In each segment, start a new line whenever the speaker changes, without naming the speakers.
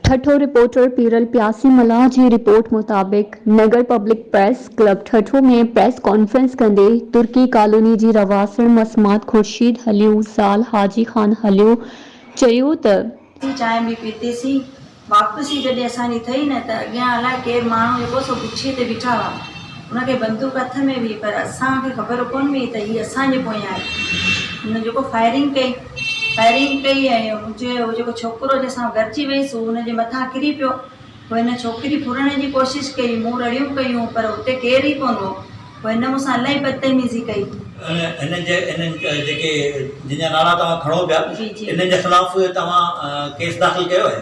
Thatta, reporter, Piral Piyasi Mallah جي report مطابق Nagar public press club Thatta ۾ press conference ڪندي ترڪي ڪالوني جي رهواسڻ مصمات خورشيد هليو زال حاجي خان هليو چيو ته. ٿي چانهه به پيتي
سين واپسي جڏهن اسان جي ٿئي نه ته اڳيان الاء ڪير ماڻهو جيڪو سو گڇي تي بيٺا هئا. ان کي بندوق هٿ ۾ هئي پر اسان کي خبر ڪونه هئي ته هي اسان جي پويان آهي. هن جيڪو فائرنگ ڪئي فائرنگ ڪئي ۽ منهنجي هو جيڪو ڇوڪرو جنهن سان گڏجي ويس هو هن جي مٿان ڪري پيو. پوء هن ڇوڪري ڦرڻ جي ڪوشش ڪئي مون رڙيون ڪيون پر اتي ڪير ئي ڪونه هو. پوء هن مون سان الائي بدتميزي ڪئي. ان هن جي هن جيڪي
جن جا نالا توهان کڻو پيا انهن جي خلاف توهان ڪيس داخل ڪيو آهي؟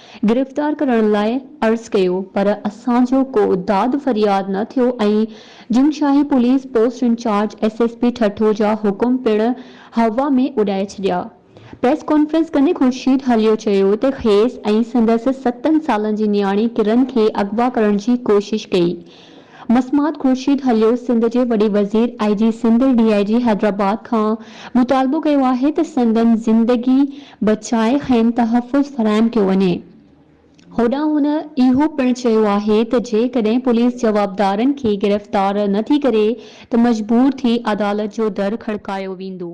گرفتار ڪرڻ لاء عرض ڪيو پر اسان جو ڪو داد فرياد نه ٿيو ۽ Jungshahi police post incharge S S P Thatta جا حڪم پڻ هوا ۾ اڏائي ڇڏيا پريس ڪانفرنس ڪندي خورشيد هليو چيو ته کيس ۽ سندس ستن سالن جي نياڻي ڪرن کي اغوا ڪرڻ جي ڪوشش ڪئي مسمات خورشيد هليو سنڌ جي وڏي وزير آئي جي سنڌ ڊي آئي جي حيدرآباد کان مطالبو ڪيو آهي ته سندن زندگي بچائي کين تحفظ فراهم ڪيو وڃي هوڏانهن هن اهو پڻ چيو آهي ته جيڪڏهن پوليس جوابدارن کي گرفتار نه ٿي ڪري ته مجبور ٿي عدالت جو در کڙڪايو ويندو.